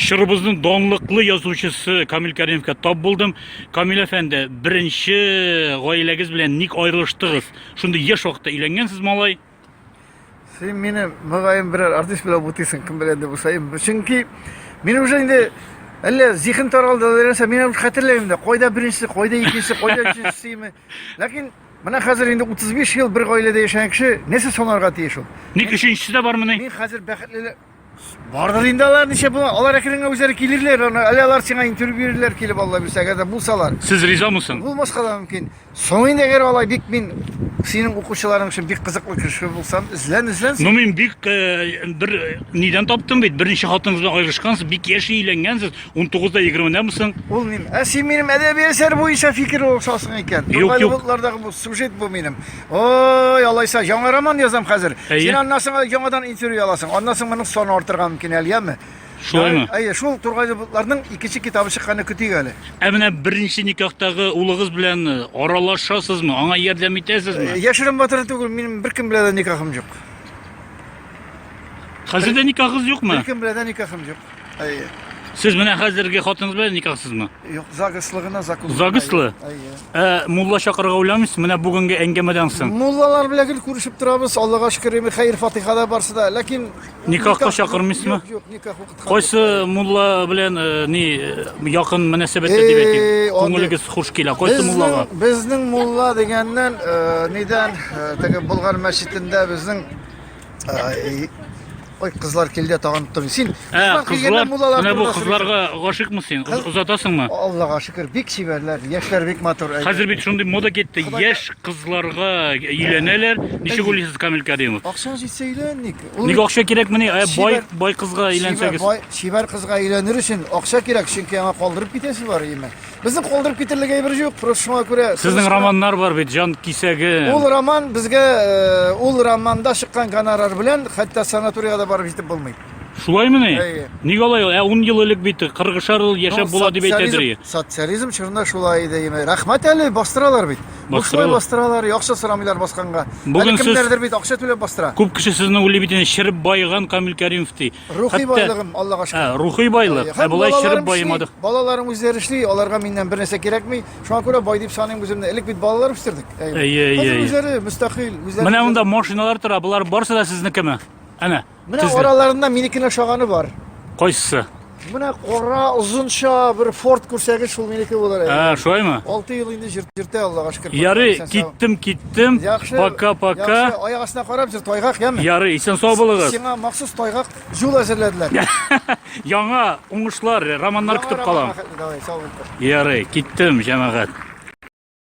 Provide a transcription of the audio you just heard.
Чорыбызның данлыклы язучысы Камил Кәримовка тап булдым. Камил әфәнде, беренче гаиләгез белән ник аерылыштыгыз? Шундый яшь вакытта өйләнгәнсез малай. Син мине мөгаен берәр артист белән бутыйсың, кем белән дә булсаем. Чөнки мин уже инде әллә зиһен таралды, нәрсә, мин уже хәтерләмим дә, кайда беренчесе, кайда икенчесе, кайда өченчесеме. Ләкин Менә хәзер инде 35 ел бер гаиләдә яшәгән кеше нәрсә санарга тиеш ул? Ник өченчесе дә бармыни? Мин хәзер бәхетле Бардыр инде алар ничә бу алар әкренге үзләре килерләр аны әле алар сиңа интервью бирерләр килеп алла бирсә әгәр дә булсалар. Сез ризамы соң? Булмаска да мөмкин. Соң инде әгәр алай бик мин синең укучыларың өчен бик кызыклы кеше булсам, эзлән, эзлән. Ну мин бик э, бер э, нидән таптым бит, берничә хатыныгыз белән аерышкансыз, бик яшь өйләнгәнсез, 19 да 20 дәме соң. Ул мин. Ә син минем әдәби әсәр буенча фикер алсасың икән. Юк, юк. Бултлардагы бу сюжет бу минем. Ой, алайса, яңа роман язам хәзер. Әйе. Син аннан соң яңадан интервью аласың. Аннан соң моның саны артырга мөмкин әле, яме. Шулаймы? Әйе, шул Тургайлы бутларның икенче китабы чыкканны көтик әле. Ә менә беренче никахтагы улыгыз белән э, аралашасызмы? Аңа ярдәм итәсезме? Яшерен батыры түгел, минем беркем белән дә никахым юк. Хәзер дә никахыгыз юкмы? Беркем белән дә никахым юк. Әйе. Сез менә хәзерге хатыныгыз белән никахсызмы? Юк, загыслы гына закон. Загыслы? Әйе. Ә мулла чакырырга уйламыйсыз менә бүгенге әңгәмәдән соң? Муллалар белән гел күрешеп торабыз, Аллага шөкер, эми хәер фатиха да барсы да. Ләкин Никахка чакырмыйсызмы? Юк, юк, никах укыткан. Кайсы мулла белән э, ни э, якын мөнәсәбәттә дип Эй, әйтик? андый- Күңелегез хуш килә. Кайсы муллага? Безнең, безнең мулла дигәннән, э, нидән, э, теге Болгар мәчетендә безнең Ай, Ой, кызлар килде тагын тоттым. Син Ә, кызлар, менә бу кызларга гашыйкмы син? Кыз- Озатасыңмы? Аллага шөкер, бик чибәрләр, яшьләр бик матур. әйе. Хәзер бит шундый мода китте. Яшь кызларга өйләнәләр. Ничек уйлыйсыз, Камил Кәримов? Акчаң җитсә өйлән ник. Ул Ник акча кирәкмени? Ә бай Чибәр- бай кызга чибәр, әйләнсәгез. бай- чибәр кызга өйләнер өчен акча кирәк, чөнки аңа калдырып китәсе бар, яме. Безнең калдырып китерлек әйбер юк, просто шуңа күрә. Сезнең романнар бар бит, җан кисәге. Ул роман безгә э, ул романда чыккан гонорар белән хәтта санаториягә да барып җитеп булмый. Шулаймыни? Әйе. Ник алай? Ә 10 ел элек бит 40 шар ел яшәп була дип әйтәдер. Социализм чорында шулай иде. Яме. Рәхмәт әле бастыралар бит. Бушлай бастыралар, акча сорамыйлар басканга. Бүген кемнәрдер бит акча түләп бастыра. Күп кеше сезне уйлый бит, шерп байыган Камил Кәримов ди. Рухи байлыгым, Аллага шөкер. Ә, рухи байлык. Ә болай чиреп баймадык. Балаларым үзләре эшли, аларга миннән бер нәрсә кирәкми. Шуңа күрә бай дип саныйм үземне. Элек бит балалар үстердек. Әйе, әйе. Үзләре мөстәкыйль, үзләре. Менә монда машиналар тора, болар барсы да сезнекеме? Әнә. Менә араларында минекенә шаганы бар. Кайсы? Менә кара озынча бер форт күрсәгез, шул минеке булыр. Ә, шулаймы? 6 ел инде җиртә Аллага шөкер. Ярый, киттем, киттем. киттем. Яхшы. Пока-пока. Яхшы, аяк астына карап җыр тайгак, яме. Ярый, исән сау булыгыз. Сиңа махсус тайгак җул әзерләделәр. Яңа уңышлар, романнар көтеп калам. Давай, сау бул. Ярый, киттем, җәмәгать.